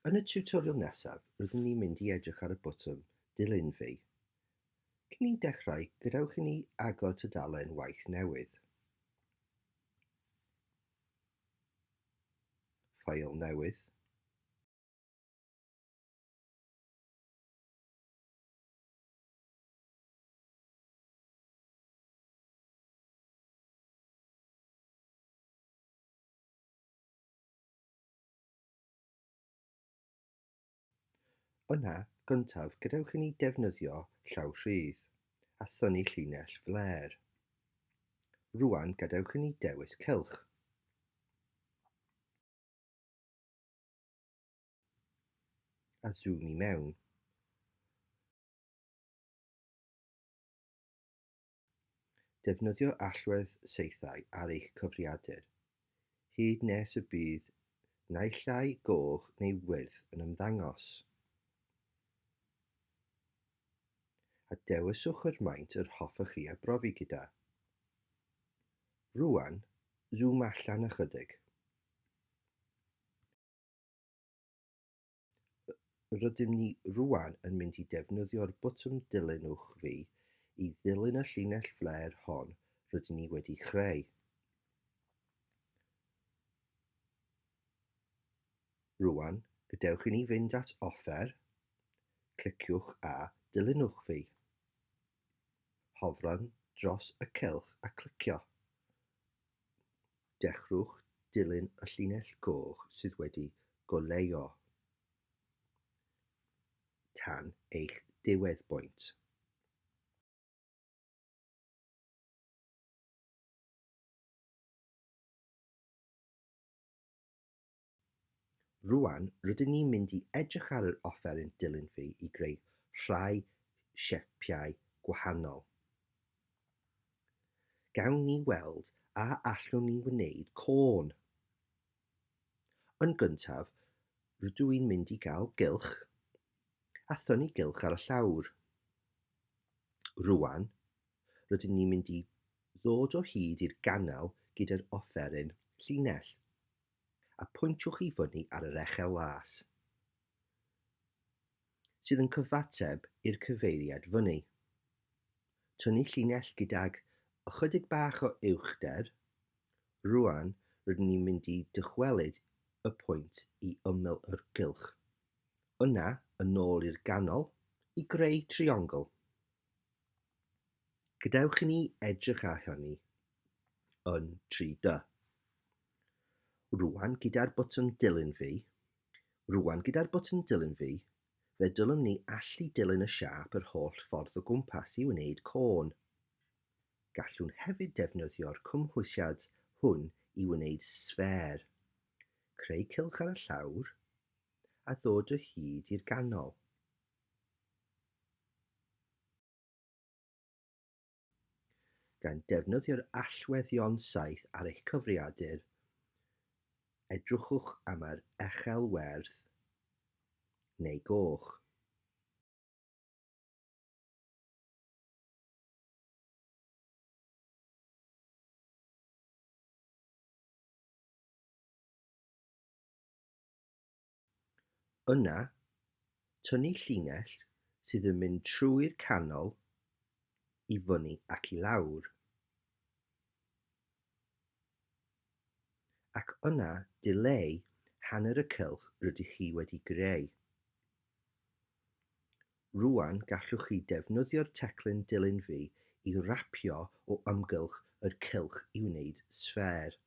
Yn y tutorial nesaf, rydyn ni'n mynd i edrych ar y botwm Dilyn fi. Cyn i dechrau, gadewch i ni agor tudalen waith newydd. Ffael newydd. Yna, gyntaf, gadewch i ni ddefnyddio llaw rhydd, a thynnu llinell flêr. Rŵan, gadewch i ni dewis cylch. a zoom i mewn. Defnyddio allwedd saethau ar eich cyfriadur, hyd nes y bydd naill ai goch neu wyrdd yn ymddangos. A dewiswch yr maint yr hoffech chi a brofi gyda. Rwan, zoom allan ychydig. Rydym ni rŵan yn mynd i defnyddio'r botwm dilynwch fi i ddilyn y llinell flêr hon rydyn ni wedi chreu. Rŵan, gadewch i ni fynd at offer, cliciwch a dilynwch fi. Hofran dros y cylch a clicio. Dechreuwch dilyn y llinell goch sydd wedi goleuo tan eich diwedd bwynt. Rŵan, rydyn ni'n mynd i edrych ar yr offeryn dilyn fi i greu rhai siapiau gwahanol. Gawn ni weld a allwn ni wneud côn. Yn gyntaf, rydw i'n mynd i gael gylch a thynnu gylch ar y llawr. Rŵan, rydyn ni'n mynd i ddod o hyd i'r ganel gyda'r offeryn llinell. a pwyntiwch i fyny ar yr echel las sydd yn cyfateb i'r cyfeiriad fyny. Tynnu llinell gydag ychydig bach o uwchder. Rwan, rydyn ni'n mynd i dychwelyd y pwynt i ymyl yr gylch. Yna, yn ôl i'r ganol, i greu triongl. Gadewch i ni edrych ar hynny yn 3D. Rwan gyda'r botwm dilyn fi, rwan gyda'r botwm dilyn fi, fe dylwn ni allu dilyn y siap yr holl ffordd o gwmpas i wneud côn. Gallwn hefyd defnyddio'r cymhwysiad hwn i wneud sffer, creu cylch ar y llawr, a ddod o hyd i'r ganol. Gan ddefnyddio'r allweddion saith ar eich cyfrifiadur, edrychwch am yr echel werdd neu goch. Yna, tynnu llinell sydd yn mynd trwy'r canol i fyny ac i lawr. Ac yna dileu hanner y cylch rydych chi wedi greu. Rwan gallwch chi defnyddio'r teclyn dilyn fi i rapio o amgylch yr cylch i wneud sffêr.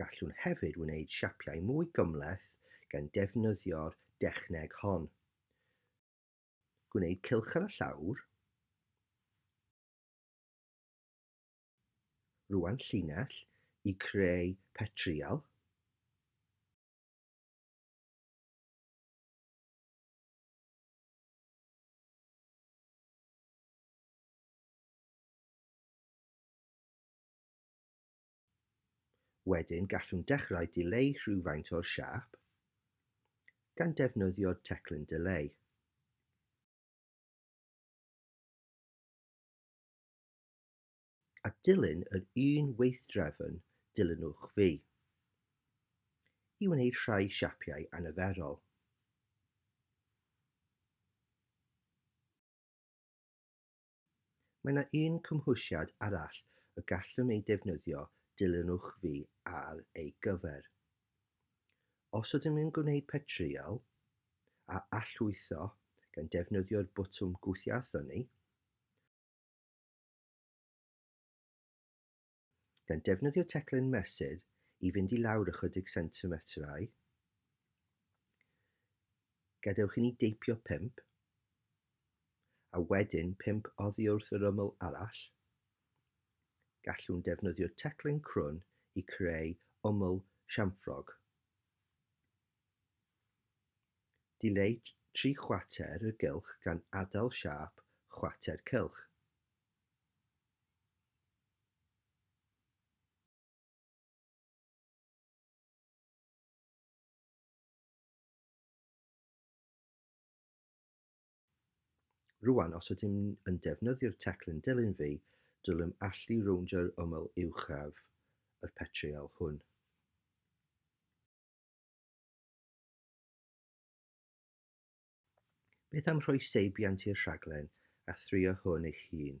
Gallwn hefyd wneud siapiau mwy gymhleth gan defnyddio'r dechneg hon. Gwneud cylch ar y llawr. Rwan llinell i creu petrial. Wedyn gallwn dechrau dileu rhywfaint o'r siâp gan defnyddio teclyn dileu. A dilyn yr un weithdrefn dilynwch fi i wneud rhai siapiau anyferol. Mae yna un cymhwysiad arall y gallwn ei defnyddio dilynwch fi ar ei gyfer. Os ydym yn gwneud petreuel a allwytho gan defnyddio'r botwm gwthio a thynnu, gan defnyddio teclyn mesur i fynd i lawr ychydig sentimetrau, gadewch i ni deipio 5, a wedyn 5 oddi wrth yr ymyl arall, gallwn defnyddio teclyn crwn i creu ymyl siamffrog. Dileu tri chwater y gylch gan adael siâp chwater cylch. Rwan, os ydym yn defnyddio'r teclyn dilyn fi, dylem allu rowndio'r ymyl uwchaf yr petriol hwn. Beth am rhoi seibiant i'r rhaglen a thrio hwn eich hun?